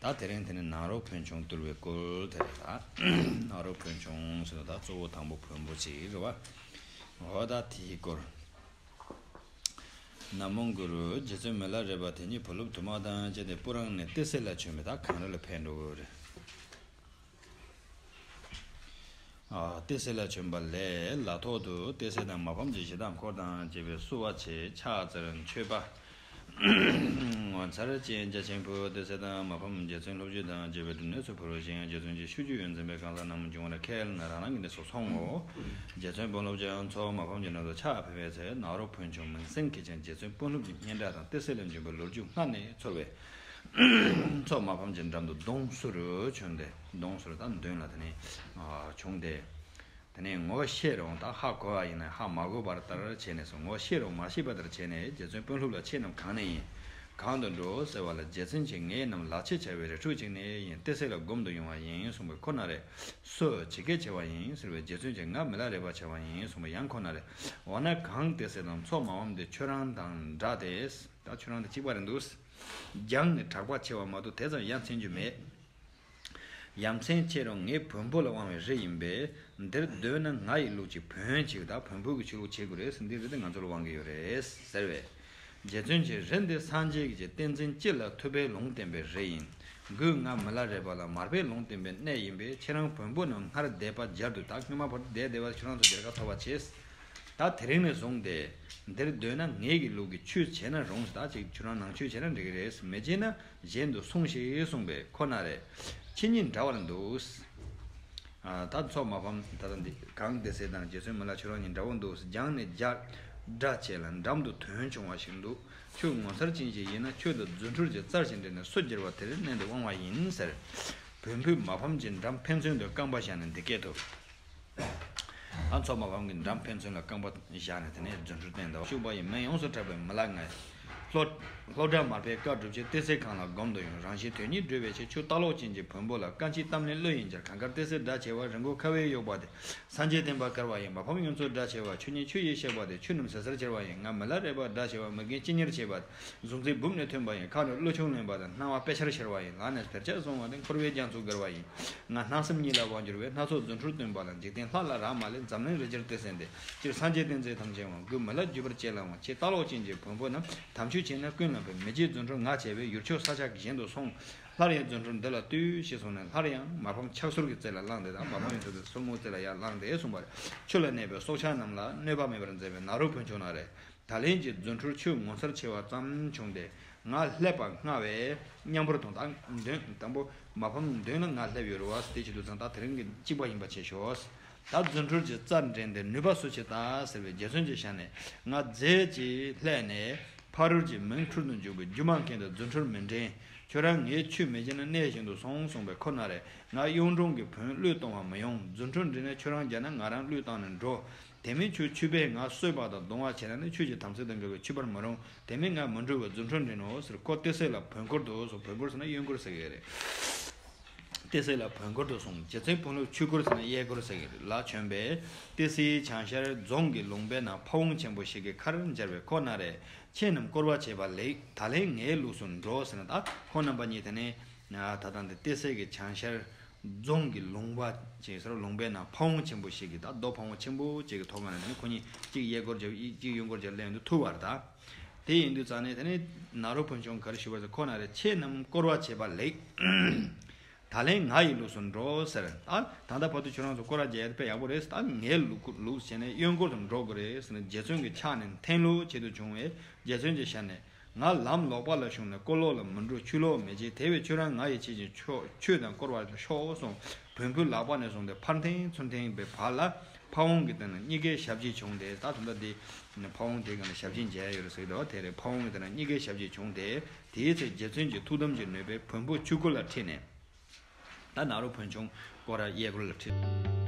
ད་དེ་རིང་དེ་ནི་ནང་རོགས་བོན་ཆུང་བཏུལ་བའི་སྐོར་དེ་རེད་ད། ནང་རོགས་བོན་ཆུང་ཟེར་ན་ད་གཙོ་བོ་དང་པོ་བོན་པོ་གཅིག་རེད་བ། འོ་ད་དེའི་སྐོར། ན་མོ་གུ་རུ་རྗེ་བཙུན་མི་ལ་རས་པ་དེ་ཉིད་བུ་སློབ་དུ་མ་དང་བཅས་ཏེ་སྤུ་རངས་ནས་ཏི་སེ་ལ་བྱོན་པས་ད་གངས་རི་ལ་ཕེབས་འགྲོ་འོས་རེད། ཏེ་སེ་ལ་བྱོན་པ་ལས་ལ་ཐོག་ཏུ་ཏེ་སེ་དང་མ་ཕམ་གྱི་ཞེ་སྡང་འཁོར་དང་བཅས་པའི་བསུ་བ་ཆེ་ཕྱག་འཚལ་མཆོད་པ། ངོ་མཚར་ཅན་རྒྱ་ཆེན་པོ་ཏེ་སེ་དང་མ་ཕམ་རྗེ་བཙུན་སློབ་བརྒྱུད་དང་བཅས་པའི་སྒྲུབ་གནས་སུ་འཕུར་བ་ཞིང་རྗེ་བཙུན་གྱི་ཆོས་བརྒྱུད་ཡོན་འཛིན་པའི་གང་ཟག་རྣམས་འབྱུང་བར་ཁས་ལེན་རང་རང་གི་གནས་སུ་སོང་ངོ། རྗེ་བཙུན་དཔོན་སློབ་རྒྱལ་མཚོ་མ་ཕམ་གྱི་ནང་དུ་ཕྱག་ཕེབས་པའི་ཚེ་ནཱ་རོ་བོན་ཆུང་མིང་སྲིང་གིས་ཀྱང་རྗེ་བཙུན་དཔོན་སློབ་ཀྱི་སྙན་གྲགས་དང་ཏེ་སེ་ལ་འབྱོན་པའི་ལོ་རྒྱུས་སྔར་ནས་ཚོར་བས། མཚོག་མ་ཕམ་ཅིང་འགྲམ་དུ་སྡོང་གསུར་བྱུང་སྟེ། སྡོང་གསུར་དང་བདུན་ལ་དེ་ནས་བྱུང་སྟེ། དེ་ནས་ངོ་བོ་ཤེས་རུང་དང་ཧ་གོ་བ་ཡིན་ནས་ཧ་མ་གོ་བར་ལྟར་བྱས་ནས་སོ་ངོ་བོ་ཤེས་རུང་མ་ཤེས་པ་ལྟར་བྱས་ནས་རྗེ་བཙུན་དཔོན་ལྷུབ་ལ་ཆས་རྣམས་གང་ནས་ཡིན། གང་དུ་འགྲོ་ཟེར་བ་ལ་རྗེ་བཙུན་གྱིས་ངེད་རྣམས་ལག་ཕྱེད་བྱ་བའི་རི་ཕྲུག་ཅིག་ནས་ཡིན་ཏེ་སྲེག་ལ་སྒོམ་དུ་ཡོང་བ་ཡིན་གསུངས་པས་ཁོ་ན་རེ། སོ། ཇི་སྐད་བྱ་བ་ཡིན་ཟེར་བས་རྗེ་བཙུན་གྱིས་ང་མི་ལ་རེ་བ་བྱ་བ་ཡིན་གསུངས་པས་ཡང་ཁོ་ན་རེ། འོ་ན་གང་དེ་སྲེག་དང་མཚོག་མ་ཕམ་དེ་ཁྱོད་རང་དང་འདྲ་སྟེ། ད་ཁྱོད་རང་དང་གཅིག་པ་རེད་འདུག། རྒྱང་ནས་གྲགས་པ་ཆེ་བ་མ་གཏོགས་དེ་ཙམ་ཡ་མཚན་རྒྱུ་མེད། ཡ་མཚན་ཆེ་རུང་ངའི་བོན་པོ་ལ་དབང་བའི་རི་ཡིན་པས། འདིར་སྡོད་ན་ང་ཡི་ལུགས་ཀྱི་བོན་གཅིག་དང་བོན་པོ་གི་ཆོས་ལུགས་བྱེད་དགོས་རེད་འདི་རི་དེ་ང་ཚོ་ལ་དབང་གི་ཡོད་རེད་ཟེར་བས། རྗེ་བཙུན་གྱི་རི་འདི་སངས་རྒྱས་ཀྱི་བསྟན་འཛིན་སྤྱི་ལ་ཐུབ་པའི་ལུང་བསྟན་པའི་རི་ཡིན། གུས་ངག་མི་ལ་རས་པ་ལ་མར་པའི་ལུང་བསྟན་པའི་གནས་ཡིན་པས་ཁྱེད་རང་བོན་པོ་རྣམས་སྔར་བསྡད་པ་སྦྱར་དུ་ད་སྔོན་མ་བོར་ཏུ་བསྡད་བསྡད་བར་ཁྱོད་རང་ཚོ་འདིར་ཁ་འཐོར་བ་བྱེད། ད་དེ་རིང་ནས་བཟུང་སྟེ། འདིར་སྡོད་ན་ངེད་ཀྱི་ལུགས་ཀྱི་ཆོས་བྱས་ན་རུང་ཟླ་གཅིག་ཁྱོད་རང་ནང་ཆོས་བྱས་ན་འགྲིག་གི་རེད་མི་བྱེད་ན་གཞན་དུ་སོང་ཞིག་གསུངས་པས་ཁོ་ན་རེ། ཁྱེད་གཉིས་འདྲ་བར་འདུག། ད་འཚོགས་མ་ཕམ་ད་ལྟ་འདི་གང་བདེ་གསལ་དང་རྗེ་བཙུན་མི་ལ་ཁྱོད་རང་གཉིས་འདྲ་བོ་འདུག་སྦྱངས་ནས་བརྒྱ། སྒྲ་བྱས་ལ་འགྲམ་དུ་དོན་བྱུང་བ་ཞིག་འདུག་ཁྱོད་ངོ་མཚར་ཅན་ཞིག་ཡིན་ན་ཁྱོད་དང་རྫུ་འཕྲུལ་གྱི་རྩར་ཞིག་འདྲེས་ནས་སོ་གྱེར་བ་དེར་མནན་ཏེ་དབང་བ་ཡིན་ཟེར། བོན་ཕུད་མ་ཕམ་གྱིས་འགྲམ་ཕན་ཚུན་དུ་རྐང་པ་བཞག་ནས་འདི་སྐད་དུ། ཨ་མཚོ་མ་གང་གིས་འགྲམ་ཕན་ཚུན་ལ་རྐང་པ་བཞག་ནས་དེ་ནས་རྫུ་འཕྲུལ་བསྟན་ཏོ། ཕྱུག་པོ་ཡི་མིང་ཡོངས་སུ་གྲགས་པའི་མི་ལ་ངའི། ལྷོ་བྲག་མར་པའི་བཀའ་བསྒྲུབ་ཆེད་གཏེར་སའི་ཁང་ལ་སྒོམ་དུ་ཡོང་རང་བཞིན་དོན་གཉིས་བསྒྲུབ་པའི་ཆེད་ཆུ་རྟ་གློག་ཅན་གྱི་བོན་པོ་ལ་བཀའ་མཆིད་གཏམ་གླེང་བློ་ཡིན་འཆར་གངས་དཀར་གཏེར་སའི་སྒྲ་བྱེ་བ་རི་མགོ་ཁ་བས་གཡོགས་པ་དེ་སངས་རྒྱས་བསྟན་པ་དཀར་བ་ཡི་མ་ཕམ་གཡུ་མཚོའི་སྒྲ་བྱེ་བ་ཆུ་གཉིས་ཆུ་ཡིས་གཤེགས་པ་དེ་ཆུ་རྣམས་ཟེར་ཟེར་འཁྱེར་བ་ཡི་ང་མི་ལ་རས་པ་སྒྲ་བྱེ་བ་མི་རྒན་ཅི་ཉེར་བྱེད་པ་དེ་གཟུགས་མཛེས་སྦུབས་ནས་ཐོན་པ་ཡིན་ཁ་ནས་གླུ་ཆུང་ལེན་པ་དང་སྣང་བ་དཔེ་ཆར་ཤར་བ་ཡིན་ལག་ནས་དར་ལྕག་བཟུང་བ་དང་འཁོར་བའི་རྒྱ་མཚོ་བརྒལ་བ་ཡིན་ང་སྣང་སེམས་གཉིས་ལ་དབང་བསྒྱུར་བས་སྣ་ཚོགས་རྫུ་འཕྲུལ་སྟོན་པ་ལ་འཇིག་རྟེན་ལྷ་ལ་རག་མ་ལས་འཛམ་གླིང་རི་རྒྱལ་སྟོད་གསལ་འདས་སྤྱིར་སངས་རྒྱས་བསྟན་འཛིན་དམ་ཅན་དབང་བསྐུར་མི་ལ་བརྒྱུད་པར་བཅས་ལ་དབང་ཆེ་ལྟ་ལོག་ཅན་གྱི་བོན་པོ་རྣམས་དམ་ཆོས་བྱས་ན་ཀུན་ལ་བོད་མི་རྗེ་བཙུན་ཁྲོ་ངག་བྱས་པས་ཡུལ་ཕྱོགས་ས་ཆ་གཞན་དུ་སོང་སླར་ཡང་བཙུན་ཁྲོ་འདི་ལ་ལྟོས་ཞེས་གསུངས་ནས་སླར་ཡང་མ་ཕམ་ཕྱག་སོར་གྱི་རྩེ་ལ་བླངས་ཏེ་དང་མ་ཕམ་ཡོངས་འཛིན་གྱི་སོར་མོའི་རྩེ་ལ་ཡར་བླངས་ཏེ་གསུངས་པ་རེད་ཆུ་ལ་གནས་པའི་སྲོག་ཆགས་རྣམས་ལ་གནོད་པ་མེད་པར་མཛད་པའི་ནཱ་རོ་བོན་ཆུང་ན་རེ། ད་ལན་གྱི་རྫུ་འཕྲུལ་ཆུ་ངོ་མཚར་ཆེ་བ་ཙམ་བྱུང་སྟེ་ང་ལྷད་པ་སྔ་བས་མཉམ་པོར་དོན་དག་འདོན་དང་པོ་མ་ཕམ་འདོན་ན་ང་ལྷད་པའི་རུ་བ་སྟེ་ཆུ་དུག་ཚང་དག་དེ་རིང་གི་གཅིག་པ་ཡིན་པ་བྱས་ཤོག་ད་རྫུ་འཕྲུལ་གྱི་རྩར་འགྲེང་སྟེ་ནུས་པ་སུ་བྱེད་ད་ཟེར་བའི་རྒྱལ་མཚོན་གྱི་ཞལ་ནས་ང་རྫས་ཀྱིས་ལྷད་ནས་ཕ་རོལ་གྱི་མིང་འཁྲུལ་དུ་འཇུག་པའི་རྒྱུ་མང་མཁན་དེ་རྫུ་འཕྲུལ་མི་འགྲེང་ཁྱོད་རང་ངའི་ཆུ་མེ་ཁྱེར་ན་གནས་གཞན་དུ་སོང་གསུངས་པས་ཁོ་ན་རེ་ང་གཡུང་དྲུང་གི་བོན་གླུད་གཏོང་བ་མི་ཡོང་རྫུ་འཕྲུལ་འགྲེང་ན་ཁྱོད་རང་རྒྱ་ན་ང་རང་གླུད་བཏང་ནས་འགྲོ། དེ་མིན་ཆུ་ཆུད་པས་ང་གསོད་པ་དང་རྡུང་བ་བྱས་ན་ནི་ཆོས་ཀྱི་དམ་ཚིག་དང་འགལ་བས་ཆུད་པར་མི་རུང། དེ་མིན་ང་མི་འགྲོ་བས་རྫུ་འཕྲུལ་འདྲེན་ནོ་ཟེར་ཀོ་སྟེ་སྲེག་ལ་བོན་འཁོར་དུ་སོང་བོན་འཁོར་ཟེར་ན་གཡོན་འཁོར་ཟེར་གྱི་རེད། སྟེ་སྲེག་ལ་བོན་འཁོར་དུ་སོང་རྗེ་བཙུན་བོན་ལུགས་ཆོས་འཁོར་ཟེར་ན་གཡས་འཁོར་ཟེར་གྱི་རེད་ལ་བྱོན་པས། ཏི་སེའི་བྱང་ཤར་རྫོང་གི་ལུང་པའི་ནང་ཕ་བོང་ཆེན་པོ་ཞིག་གི་ཁར་འབྱར་བའི་ཁོག་ན་རས་ཆེན་རྣམས་བསྐོར་བ་བྱས་པ་ལེགས་ད་ལེན་ངའི་ལུགས་སུ་འགྲོ་ཟེར་ན་ད་ཁོང་རྣམ་པ་གཉིས་དེ་ནས་ད་ལྟ་འདི་ཏི་སེ་གི་བྱང་ཤར་རྫོང་གི་ལུང་པ་ཅེས་སུ་ར་ལུང་པའི་ནང་ཕ་བོང་ཆེན་པོ་ཞིག་གི་དང་རྡོ་ཕ་བོང་ཆེན་པོ་བཅས་ཀྱི་ཐོག་ཁང་རེ་ནས་ཁོ་གཉིས་གཅིག་གཡས་སྐོར་བརྒྱབ་གཅིག་གཡོན་སྐོར་བརྒྱབ་སླེབས་འདུག་ཐུག་བར་དང། དེ་ཡིན་དུས་རྩ་ནས་དེ་ནི་ནཱ་རོ་ཕུན་ཆུང་གར་བཞུགས་པ་ཚོས་ཁོ་ན་རེ་ཁྱེད་རྣམས་སྐོར་བ་བྱེད་པ་ལེགས། ད་ལན་ང་ཡི་ལུགས་སུ་འགྲོ་ཟེར། ད་ལྟ་ཕ་ཐུག་ཁྱོད་རང་ཚོ་སྐོར་བ་བརྒྱད་ཡར་ཕེབས་ཡག་པོ་རེད་ཟེར། ད་ངའི་ལུགས་བྱས་ནས་གཡོན་སྐོར་དུ་འགྲོ་དགོས་རེད་ཟེར་ནས་རྗེ་བཙུན་གྱི་ཕྱག་ནས་འཐེན་ལོ་བྱེད་དུ་བྱུང་བས་རྗེ་བཙུན་གྱིས་ཞལ་ནས། ང་ལམ་ལོག་པ་ལ་ཞུགས་ནས་དཀོར་ལོག་ལ་མི་འགྲོ་ཆུ་ལོག་མི་བྱེད་དེ་བས་ཆུ་རང་ང་ཡིས་བྱེད་ཅིང་ཆུ་དང་བསྐོར་བར་ཤོག་གསུང། བོན་ཕུ་ལག་པ་ནས་བཟུང་སྟེ་ཕར་འཐེན་ཚུར་འཐེན་པའི་བར་ལ་ཕ་བོང་གི་སྟེང་ན་གཉིས་ཀའི་ཞབས་རྗེས་བྱུང་སྟེ་ད་དུང་ད་འདི་ནས་ཕ་བོང་དེའི་སྒང་ལ་ཞབས་རྗེས་མཇལ་ཡས་ཡོད་རེད་ཟེར་གི་འདུག་དེ་རེད་ཕ་བོང་གི་སྟེང་ན་གཉིས་ཀའི་ཞབས་རྗེས་བྱུང་སྟེ་དེའི་ཚེ་རྗེ་བཙུན་གྱི་ཐུགས་དམ་གྱི་ནུས་པས་བོན་ཕུ་ཆུ་དཀོར་ལ་ཁྲིད་ནས། ད་ནཱ་རོ་བོན་ཆུང་སྐོར་ར་གཡས་སྐོར་ལ་ཁྲིད།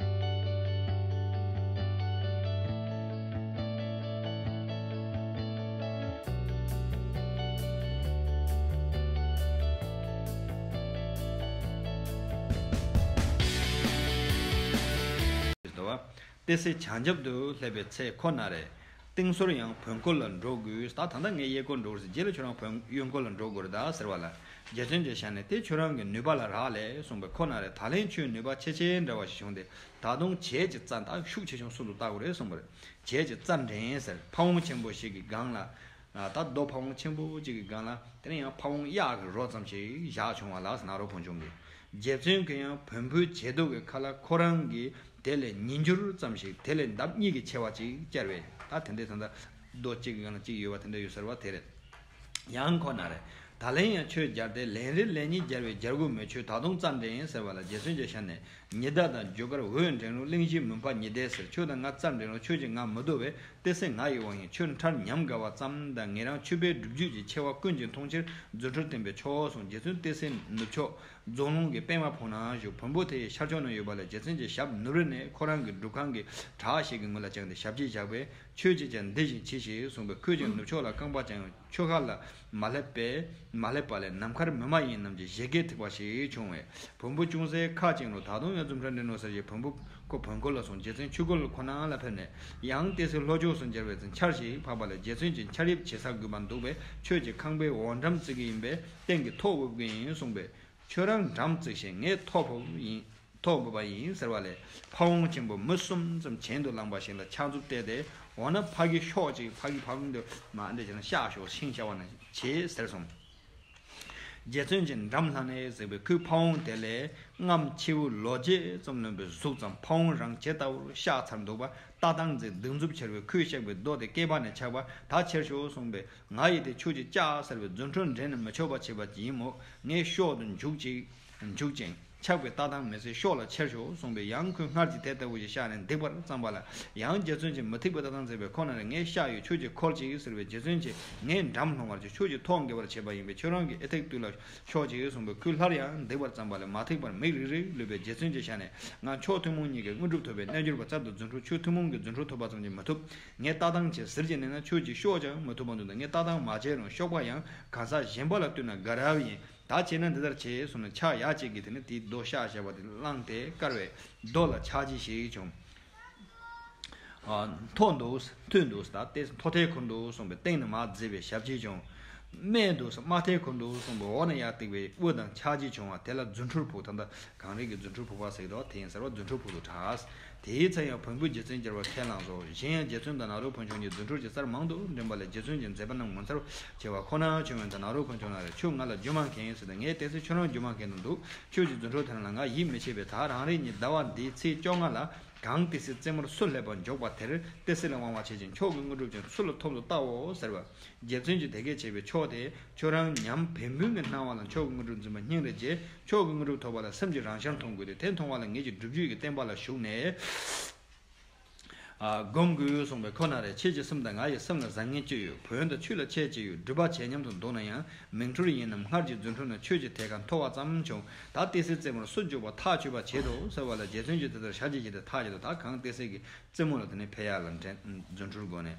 དཔེ་སེ་བྱང་རྒྱབ་ཏུ་སླེབས་པའི་ཚེ་ཁོ་ན་རེ། སྟེང་སོར་ཡང་བོན་སྐོར་ལ་འགྲོ་དགོས། ད་ད་ལྟ་ངས་གཡས་སྐོར་འགྲོ་དགོས་ཟེར་རྗེས་ལ་ཁྱོད་རང་བོན་གཡོན་སྐོར་ལ་འགྲོ་དགོས་རེད་ད་ཟེར་བ་ལ། རྒྱལ་མཚོན་གྱི་ཞལ་ནས་དེ་ཁྱོད་རང་གི་ནུས་པ་ལ་རག་ལས་གསུངས་པས་ཁོ་ན་རེ་ད་ལན་ཁྱོད་ནུས་པ་ཆེ་ཆེ་འདྲ་བ་ཞིག་བྱུང་སྟེ་ད་དུང་བྱས་ཀྱི་རྩ་འདག་ཤུགས་ཆེ་ཆུང་སུ་འདུག་བལྟ་དགོས་རེད་གསུངས་པར། བྱས་ཀྱི་རྩ་འགྲན་ཟེར་ཕ་བོང་ཆེན་པོ་ཞིག་གི་སྒང་ལ། ད་རྡོ་ཕ་བོང་ཆེན་པོ་གཅིག་གི་སྒང་ལ་དེ་ནས་ཡང་ཕ་བོང་གཡག་གི་རོ་ཙམ་ཞིག་བཞག་བྱུང་བ་ལགས་ན་རོ་བོང་ཆུང་གི་རྗེ་བཙུན་གྱི་ཡང་བོན་པོའི་བྱད་དུག་གི་ཁ་ལ་ཁོ་རང་གི་དེ་ལས་ཉིས་འགྱུར་ཙམ་ཞིག་དེ་ལས་འདབ་གཉིས་ཀྱི་ཆེ་བ་ཅིག་བསྐྱལ་བས་ད་དེ་འདྲའི་ད་ད་རྡོ་གཅིག་གི་སྒང་ལ་གཅིག་ཡོད་པ་དེ་འདྲ་ཡོད་ཟེར་བ་དེ་རེད་ཡང་ཁོ་ན་རེད་ད་ལན་ཡང་ཆོས་སྦྱར་ཏེ་ལན་རེ་ལན་གཉིས་སྦྱར་བའི་སྦྱར་དགོས་མོད་ཆོས་ད་དུང་རྩ་འགྲེང་ཟེར་བ་ལ་རྗེ་བཙུན་གྱི་ཞལ་ནས་ཉི་ཟླ་དང་བརྗོད་དཀར་འོད་འདྲེན་རླུང་གླིང་བཞིའི་མུན་པ་ཉི་ཟླའི་ཟེར་ཆོས་དང་ང་རྩ་འདྲེན་རླུང་ཆོས་ཀྱི་ངང་མི་བསྡུ་བས་ཏེ་སེམས་ང་ཡི་དབང་ཡིན་ཆོས་མཐར་ཉམས་དགའ་བ་ཙམ་དང་ངེད་རང་ཆུ་བེད་སྒྲུབ་རྒྱུད་ཀྱི་ཆེ་བ་ཀུན་གྱིས་མཐོང་ཕྱིར་རྫུ་འཕྲུལ་བསྟན་པའི་ཕྱོགས་སུ་རྗེ་བཙུན་ཏེ་སེ་ནུབ་ཕྱོགས་རྫོང་ལུང་གི་པདྨ་བོ་ན་བཞུགས་བོན་པོ་དེའི་ཤར་ཕྱོགས་ན་ཡོད་པ་ལས་རྗེ་བཙུན་གྱི་ཞབས་ནུབ་རི་ནས་ཁོ་རང་གི་སྒྲུབ་ཁང་གི་བྲག་ཞིག་གི་ངོས་ལ་བཅངས་ཏེ་ཞབས་ཀྱིས་བཞག་པས་ཆོས་ཀྱི་ཆ་འདི་བཞིན་མཆིས་ཞེས་གསུངས་པས་ཁོས་ཀྱང་ནུབ་ཕྱོགས་ལ་རྐང་པ་བཅངས་ཡོང་ཆོས་ཁ་ལ་མ་སླེབས་པས་མ་སླེབས་པ་ལས་ནམ་མཁར་མི་མ་ཡིན་རྣམས་ཀྱི་བཞད་གད་ཐིགས་པ་ཞིག་བྱུང་བས་བོན་པོ་ཅུང་ཟད་ཁ་བཅིངས་རུང་ད་དུང་ཡང་འཛུམ་ཁྲ་འདྲེན་རུང་ཟེར་གྱིས་བོན་པོ་ཁོ་བོན་སྐོར་ལ་སོང་རྗེ་བཙུན་ཆུ་ཁོལ་ཁོ་ན་ལ་ཕེབས་ནས་ཡང་བལྟས་ཚེ་ལྷོ་ཕྱོགས་སུ་འབྱར་བའི་ཚུན་ཆར་ཞིག་འཕགས་པ་ལས་རྗེ་བཙུན་གྱི་འཕྱར་དབྱིབས་ཇེ་ཟ་གུས་པར་འདུག་པས་ཁྱོད་ཀྱི་ཁང་པའི་འོག་འགྲམ་བརྩིགས་ཀྱི་ཡིན་པས་སྟེང་གི་ཐོག་དབུབ་ཀྱི་ཡིན་གསུངས་པས། ཁྱོད་རང་འགྲམ་བརྩིགས་ཤིང་ངས་ཐོག་ཕུབ་ཡིན། ཐོག་དགོས་པ་ཡིན་ཟེར་བ་ལས་ཕ་བོང་ཆེན་པོ་མུ་གསུམ་ཙམ་གྱེན་དུ་བསླངས་པ་ཞིག་ལ་ཕྱག་མཛུབ་གཏད་དེ་འོ་ན་ཕ་གི་ཤོག་ཅིག་ཕ་གི་ཕ་གུང་དུ་མ་འདི་བྱས་ན་བཤགས་ཤོག་ཤིང་བྱ་བ་ན་བྱེད་ཟེར་སོང། རྗེ་བཙུན་གྱི་འགྲམ་ལྷ་ནས་གཟིགས་པའི་ཁོའི་ཕ་བོང་དེ་ལས་རྔམ་ཁྱེའུ་ལོ་བརྒྱད་ཙམ་ལོན་པའི་གཟུགས་ཙམ་ཕ་བོང་རང་ཇེ་ལྟ་བུར་བཤགས་ཚར་འདུག་པ་ལྟ་སྟངས་མཛེས་སྡུག་མཛུབ་ཁྱེར་བས་ཁོའི་གཤེགས་པའི་རྡོ་དེ་སྐེད་པ་ནས་ཆག་པ་ད་ཁྱེར་ཤོག་གསུངས་པས་ང་ཡིད་དེ་ཆུ་གཅིག་ཅག་ཟེར་བའི་རྫུ་འཕྲུལ་འགྲན་ནས་མི་ཆོག་པ་བྱས་པ་ཅིག་ཡིན་མོད་ངས་ཤོག་ཏུ་འཇུག་ཅིག་འཇུག་ཅིང། ཆགས་པའི་ལྟ་སྟངས་མེད་ཚེ་ཤོག་ལ་ཁྱེར་ཤོག་གསུངས་པས་ཡང་ཁོས་སྔར་གྱི་དེ་ལྟ་བུ་ཞིག་བཞག་ནས་འདེགས་པར་བརྩམས་པ་ལ། ཡང་རྗེ་བཙུན་གྱིས་མི་ཐེག་པའི་ལྟ་སྟངས་མཛད་པས་ཁོ་ན་རེ་ངའི་ཤ་ཡོད་ཁྱོད་ཀྱིས་འཁོར་ཅིག་ཟེར་བས་རྗེ་བཙུན་གྱིས་ངས་འགྲམ་ལྷུང་བར་གྱིས་ཁྱོད་ཀྱིས་ཐོག་འགེལ་བར་བྱེད་པ་ཡིན་པས་ཁྱོད་རང་གིས་ཨེ་ཐེག་བཏུལ་ལ་ཤོག་ཅིག་གསུངས་པས་ཁོས་སླར་ཡང་འདེགས་པར་བརྩམས་པ་ལས་མ་ཐེག་པར་མིག་རིག་རིག་ལུས་པས་རྗེ་བཙུན་གྱིས་ཞལ་ནས་ང་མཆོག་ཐུན་མོང་གཉིས་ཀྱི་དངོས་གྲུབ་ཐོབ་པའི་རྣལ་འབྱོར་པ་རྩལ་དུ་རྫུ་འཕྲུལ་ཆོས་ཐུན་མོང་གི་རྫུ་འཕྲུལ་ཐོབ་པ་ཙམ་གྱིས་མི་ཐུབ། ངས་ལྟ་སྟངས་བྱས་ཟེར་གྱི་གནས་ན་ཁྱོད་ཀྱིས་ཤོག་ཅིག་མི་ཐུབ་པ་འདུག་ད་ངས་ལྟ་སྟངས་མ་བྱས་རུང་ཤོག་པ་ཡང་གང་ཟག་གཞན་པ་ལ་བཏུལ་ན་དགའ་རབ་ཡིན། ད་བྱས་ན་འདི་ལྟར་བྱས་གསུངས་ནས་ཕྱག་ཡ་གཅིག་གིས་དེ་ནས་དེའི་རྡོ་ཤ་ཞེས་པ་དེ་བླངས་ཏེ་དཀར་བའི་རྡོ་ལ་ཕྱག་བགྱི་ཞིག་བྱུང། མཐོ་འདུག་མཐོ་འདུག་ད་ལྟའི་མཐོ་མཐའི་འཁོར་འདུག་གསུངས་པའི་སྟེང་ན་མ་བརྫི་བའི་ཞབས་ཀྱིས་བྱུང། དམའ་འདུག་དམའ་མཐའི་འཁོར་འདུག་གསུངས་པའི་འོག་ན་ཡར་བཏེགས་པའི་དབུ་དང་ཕྱག་བགྱིས་བྱུང་བ་དེ་ལ་རྫུ་འཕྲུལ་ཕུག་ད་ལྟ་གངས་རི་གི་རྫུ་འཕྲུལ་ཕུག་པ་ཟེར་གི་འདུག་དེ་ཡིན་ཟེར་བ་རྫུ་འཕྲུལ་ཕུག་ཏུ་གྲགས། དེའི་ཚེ་ཡང་བོན་པོའི་རྗེ་བཙུན་གྱེར་བར་ཁས་བླངས་སོ། གཞན་ཡང་རྗེ་བཙུན་དང་ནཱ་རོ་བོན་ཆུང་གཉིས་རྫུ་འཕྲུལ་གྱི་སར་མང་དུ་འགྲིམས་པ་ལས་རྗེ་བཙུན་གྱི་མཛད་པ་རྣམས་ངོ་མཚར་ཆེ་བ་ཁོ་ནའང་ཆོས་བོན་དང་ནཱ་རོ་བོན་ཆུང་ལ་རེ་ཁྱོད་ང་ལ་རྒྱུ་མང་མཁན་ཡིན་ཟེར་ཏེ་ངས་བལྟས་ཚེ་ཁྱོད་རང་རྒྱུ་མང་མཁན་དུ་འདུག་ཁྱོད་ཀྱི་རྫུ་འཕྲུལ་དེ་རང་ལ་ང་ཡིད་མི་ཆེས་པས་ད་རང་རེ་གཉིས་ཟླ་བ་འདིའི་ཚེས་བཅོ་ལྔ་ལ་གངས་ཏི་སེའི་རྩེ་མོར་སུ་སླེབས་པར་འཇོག་པ་དེར་ཏི་སེ་ལ་དབང་བ་བྱེད་ཅིང་ཁྱོད་ཀྱི་དངོས་གྲུབ་ཀྱང་ཚུར་ལ་ཐོབ་ཏུ་བལྟའོ་ཟེར་བས། རྗེ་བཙུན་གྱིས་དེ་སྐད་བྱས་པས་མཆོག་དེས་ཁྱོད་རང་ཉམས་བན་བུན་གྱི་སྣང་བ་ལ་མཆོག་གི་དངོས་གྲུབ་འཛིན་པ་སྙིང་རེ་རྗེ། མཆོག་གི་དངོས་གྲུབ་ཐོབ་པ་ལ་སེམས་ཀྱི་རང་ཤར་མཐོང་དགོས་ཏེ་དེ་མཐོང་བ་ལ་ངེད་ཀྱི་སྒྲུབ་བརྒྱུད་ཀྱི་བསྟན་པ་ལ་ཞུགས་ནས་བསྒོམ་དགོས་གསུངས་པས་ཁོ་ན་རེ་ཁྱེད་ཀྱི་སེམས་དང་ང་ཡི་སེམས་ལ་བཟང་ངན་སྤྱི་ཡོད་བོན་དང་ཆུ་ལ་ཆས་ཀྱི་ཡོད་སྒྲུབ་པ་བྱས་སྙམ་དུ་འདུག་ན་ཡང་མིང་འཁྲུལ་ཡིན་ནམ་སྔར་གྱི་རྫུན་འཁྲུལ་ན་ཁྱོད་ཀྱི་དེ་ག་མཐོ་བ་ཙམ་བྱུང་ད་ཏི་སེའི་རྩེ་མོར་སུ་འཇུག་པར་ཐག་ཆོད་པར་བྱེད་དོ་ཟེར་བ་ལ་རྗེ་བཙུན་གྱིས་དེ་ལྟར་བྱ་ཅི་བྱེད་དེ་ཐག་བྱེད་དོ་ད་གང་ཏི་སེ་གི་རྩེ་མོ་ལ་དེ་ནས་ཕེབས་ཡག་ལ་འགྲན་རྫུན་འཁྲུལ་སྒོ་ནས་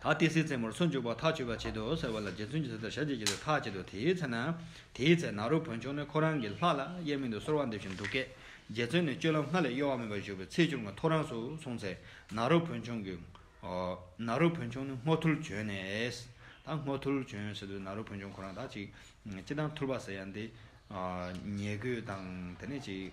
ད་ལྟའི་སའི་རྩེ་མོར་སུ་འཇུག་པར་ཐག་ཆོད་པར་བྱེད་དོ་ཟེར་བ་ལ་རྗེ་བཙུན་གྱིས་ཟེར་ལྟར་ཞབས་ཀྱིས་བྱེད་དུ་ཐག་བཅད་དོ་དེའི་ཚེ་ན། དེའི་ཚེ་ན་རུ་བོན་ཆུང་ནི་ཁོ་རང་གི་ལྷ་ལ་གཡས་མིང་དུ་གསོལ་བ་འདེབས་ཤིང་འདུག་སྐད། རྗེ་བཙུན་ནི་སྤྱོད་ལམ་སྔར་ལས་གཡོ་བ་མེད་པར་བཞུགས་པའི་ཚེ་ཆུང་ངུ་ཐོ་རངས་སུ་སོང་ཚེ་ན་རུ་བོན་ཆུང་གིས། ན་རུ་བོན་ཆུང་ནི་སྔོ་ཐུལ་བྱོན་ནས། ད་སྔོ་ཐུལ་བྱོན་ཟེར་དུས་ན་རུ་བོན་ཆུང་ཁོ་རང་དག་ཅིག། ཅི་དང་ཐུལ་བ་ཟེར་ཡང་དེ། ཉལ་གོས་དང་དེ་ནས་ཅིག།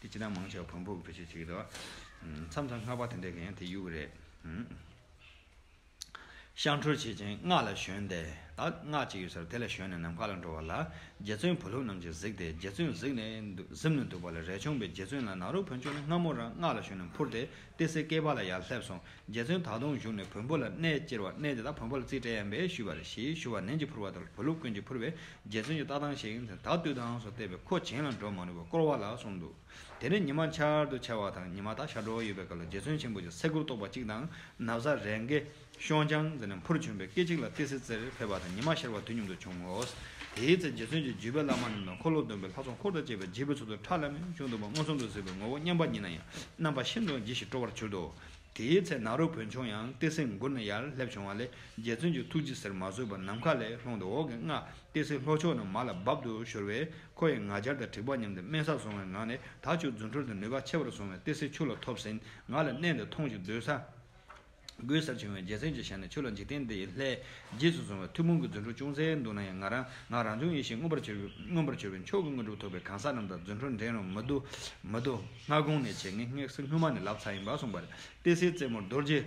དེ་ཅི་ལྟར་མང་ཆེ་བ་བོན་པོ་གི་བོད་ཆས་བྱེད་ཀྱི་འདུག་མཚམས་མཚམས་སྔགས་པ་དེ་འདྲས་ཀྱི་ཡང་དེ་གཡུག་གི་རེད། ཤངས་ཁྲོལ་བྱེད་ཅིང་སྔགས་ལ་ཞོན་ཏེ། སྔགས་ཅིག་ཡོད་ཚར་དེ་ལ་ཞོན་ནས་ནམ་མཁའ་ལ་འགྲོ་བ་ལ། རྗེ་བཙུན་བུ་ལྷུང་རྣམས་ཀྱིས་གཟིགས་ཏེ་རྗེ་བཙུན་གཟིགས་ནས་གཟིམས་ནས་འདུག་པ་ལ་རས་ཆུང་པས་རྗེ་བཙུན་ལ་ནག་རུ་བོན་ཆོས་ནི་སྔ་མོ་རང་སྔགས་ལ་ཞོན་ནས་འཕུར་ཏེ་ཏི་སེ་སྐྱེས་པ་ལ་ཡར་སླེབས་སོང་རྗེ་བཙུན་ད་དུང་བཞུགས་ནས་བོན་པོ་ལ་གནས་བཅེར་བ་གནས་དེ་དག་བོན་པོ་ལ་རྩིས་སྤྲད་ཡམ་པས་ཞུས་པ་རེ་ཞེས་ཞུ་བ་ནན་གྱིས་ཕུར་བ་དང་བོན་ལུགས་ཀུན་གྱིས་ཕུར་བས་རྗེ་བཙུན་གྱི་ལྟ་སྟངས་ཤིག་ད་བཏུས་དང་སོགས་བལྟས་པས་ཁོ་བྱིངས་ལ་འགྲོ་མ་ནུས་པར་བསྐོར་བ་ལ་སོང་འདུག་དེ་ནས་ཉི་མ་འཆར་དུ་ཆ་བ་དང་ཉི་མ་དག་ཤར་འགྲོ་བ་ཡོད་པའི་སྐབས་ལ་རྗེ་བཙུན་ཆེན་པོ་ཅིག་སེ་གུར་གཏོགས་པ་གཅིག་དང་ནབ་བཟའ་རེ་འགའི། ཤོང་བྱང་ཟེར་ནས་འཕུར་བྱོན་པའི་སྐད་ཅིག་ལ་ཏི་སེ་རྩེར་ཕེབས་པ་དང་ཉི་མ་ཤར་བ་དུས་མཉམ་དུ་བྱུང་ངོ། དེའི་ཚེ་རྗེ་བཙུན་གྱིས་བརྒྱུད་པའི་བླ་མ་རྣམས་དང་འཁོར་ལོ་སྡོམ་པའི་ལྷ་ཚོགས་འཁོར་དང་བཅས་པའི་རྗེས་པའི་ཚོགས་དུར་ཁྲག་ལྷ་མིའི་བཞུགས་འདུག་པ་མངོན་སུམ་དུ་གཟིགས་པའི་ངོ་བོ་སྙམ་པ་ཉིད་ན་ཡང་རྣམ་པ་ཤིན་ཏུ་ཡང་ལྗིད་ཞིང་སྤྲོ་བར་གྱུར་ཏོ། དེའི་ཚེ་ནཱ་རོ་བོན་ཆུང་ཡང་ཏི་སེའི་མགུར་ན་ཡར་སླེབས་བྱུང་བ་ལས་རྗེ་བཙུན་གྱི་ཐུགས་ཇི་ཟེར་མ་བཟོད་པར་ནམ་མཁའ་ལས་ལྷུང་སྟེ་འོག་གི་སྔགས་ཏི་སེའི་ལྷོ་ཕྱོགས་ན་མ་ལ་འབབ་ཏུ་ཤོར་བས་ཁོ་ཡི་ངག་སྦྱར་དང་དྲེགས་པ་སྙམ་སྟེ་དམན་སར་བཟུང་བའི་ངང་ནས་དག་བཅོས་རྫུ་འཕྲུལ་དུ་ནུས་པ་ཆེ་བར་བཟུང་བས་ཏི་སེ་ཆུ་ལ་ཐོབ་ཟིན་ང་ལ་གནས་འདིར་ཐོང་ཞིག་སྡོད་ས། གོས་གསར་བྱུང་བའི་རྒྱལ་མཚན་གྱི་ཞལ་ནས་ཆོས་ལ་འཇིག་རྟེན་འདི་ཡི་ལྷའི་རྗེས་སུ་བཟུང་བའི་མཐུ་དཔུང་གི་རྫུ་འཕྲུལ་ཅུང་ཟད་འདུག་ན་ཡང་ང་རང་ངག་རང་བྱུང་ཡེ་ཤེས་མངོན་པར་གྱུར་པའི་མངོན་པར་གྱུར་པའི་མཆོག་གི་དངོས་གྲུབ་ཐོབ་པའི་གང་ཟག་རྣམས་དང་རྫུ་འཕྲུལ་འགྲན་རུང་མི་བསྡུ། མི་བསྡུ། སྔ་དགོང་ནས་བྱེད་ངེས་སྔགས་སེ་སྔོན་མ་ནི་ལབ་ཚ་ཡིན་པར་གསུངས་པ་རེད་ཏི་སེའི་རྩེ་མོར་རྡོ་རྗེ་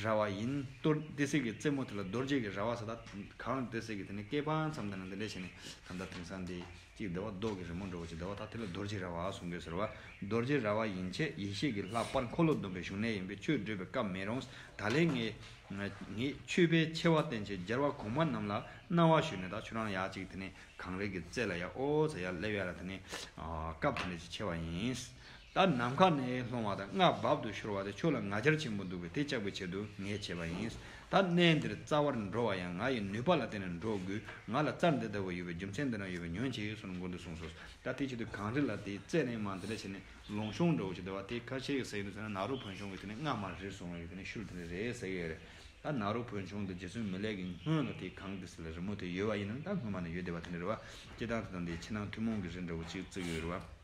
རྭ་བ་ཡིན་ལྟོས་ཏི་སེ་གི་རྩེ་མོ་དེ་ལ་རྡོ་རྗེ་གི་རྭ་བ་ཟེར་ད་གང་ལ་ཏི་སེ་གི་དེ་ནི་སྐལ་པ་འཚམས་དེ་ན་འདི་འདྲས་བྱས་ནས་ད་ལྟ་དེང་སང་འདི། ཅིག་བདེ་བ་བཟློག་གི་རི་མོ་འགྲོ་བ་ཅིག་བདེ་བ་དག་དེ་ལ་རྡོ་རྗེའི་ར་བ་གསུང་དགོས་ཟེར་བ། རྡོ་རྗེའི་ར་བ་ཡིན་ཕྱིན་ཡེ་ཤེས་ཀྱི་ལྷ་པར་འཁོར་ལོ་སྡོམ་པའི་བཞུགས་གནས་ཡིན་པས་ཆོས་བགྲོད་པའི་སྐབས་མེད་རུང་ད་ལན་ངེད་མཆོད་པས་ཆེ་བ་བསྟན་ཆེད་སྦྱར་བ་གོང་མ་རྣམས་ལ་གནང་བ་ཞུས་ནས་ད་ཆུ་རང་ཡག་ཅིག་དེ་ནས་གངས་རི་གི་རྩེ་ལ་ཡ་ཨོ་ཚ་ཡ་སླེབས་ཡ་ལ་དེ་ནས་སྐབས་དེ་འདྲ་ཅིག་ཆེ་བ་ཡིན། ད་ནམ་མཁའ་ནས་ལྷུང་བ་དང་སྔགས་རྦབ་ཏུ་ཤོར་བ་དེ་ཁྱོད་ལ་ང་རྒྱལ་ཆེན་པོ་འདུག་པས་དེ་བཅག་པའི་ཆེད་དུ་ངས་བྱས་པ་ཡིན། ད་གནས་འདིར་རྩ་བར་འགྲོ་བ་ཡང་ང་ཡི་ནུས་པ་ལ་བརྟེན་ནས་འགྲོ་དགོས། ང་ལ་རྩར་འདི་ལྟ་བུ་ཡོད་པས་རྒྱུ་མཚན་འདི་རང་ཡོད་པས་ཉོན་ཅིག་གསུངས་ནས་མགོ་འདི་བཟུངས་སོ། ད་དེའི་ཆེད་དུ་གངས་རི་ལ་དེའི་རྩེ་ནས་མར་འདི་ལ་བྱས་ནས་ལུང་གཤོང་འདྲ་བོ་ཞིག་དེ་བ་དེའི་ཁར་ཆེ་གེ་ཟེར་ཡོད་འདུག་ཟེར་ན་ནག་རུ་བོན་ཆུང་གིས་དེ་ནས་སྔགས་མར་རེ་བཟུང་བ་ཡོད་དེ་ནས་ཤུལ་དེ་འདྲ་རེད་ཟེར་གི་རེད། ད་ནག་རུ་བོན་ཆུང་འདི་རྗེ་བཙུན་མི་ལེགས་ཀྱི་སྔོན་ལ་དེའི་གངས་ཏི་སེ་ལ་རི་མོ་དེ་ཡོད་བ་ཡིན་ནམ་ད་སྔོན་མ་ནས་ཡོད་བསྡད་པ་དེ་འདྲ་རེད་བ། སྐྱེ་སྟངས་དེ་དང་དེའི་ཕྱི་ནང་ཐུན་མོང་གི་རི་འདྲ་བོ་གཅིག་བརྩིགས་ཡོད་རེད་བ།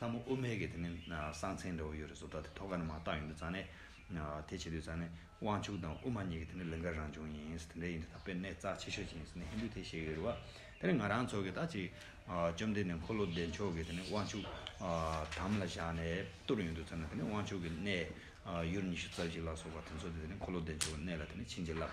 ལྷ་མོ་ཨུ་མེ་གི་དེ་ནི་གསང་མཚན་འདྲ་བོ་ཡོད་རེད་བཟོ་ལྟ་དེ་ཐོག་ཁ་ནས་མ་བཏང་ཡོང་དུས་ཙང་ནས་དེ་བྱེད་དུས་ཙང་ནས་དབང་ཕྱུག་དང་ཨུ་མ་གཉིས་ཀྱི་དེ་ནི་ལིང་ག་རང་བྱུང་ཡིན་དེ་འདྲ་ཡིན་དུས་ད་དཔེར་ནས་རྩ་ཆེ་ཤོས་ཅིག་ཡིན་ཟེར་ནས་ཧིན་དུ་དེ་བཤད་ཀྱི་རེད་བ་དེ་ནི་ང་རང་ཚོ་གི་ད་ཅིག་བཅོམ་ལྡན་འདས་འཁོར་ལོ་བདེ་མཆོག་གི་དེ་ནི་དབང་ཕྱུག་དམ་ལ་བཞག་ནས་བཏུར་ཡོང་དུས་ཙང་ནས་དེ་ནི་དབང་ཕྱུག་གི་གནས་ཡུར་ཉི་ཤུ་རྩ་བཞི་ལ་སོགས་པ་དེ་ཚོ་དེ་ནི་འཁོར་ལོ་བདེ་མཆོག་གི་གནས་ལ་དེ་ནི་བྱིན་གྱིས་བརླབས།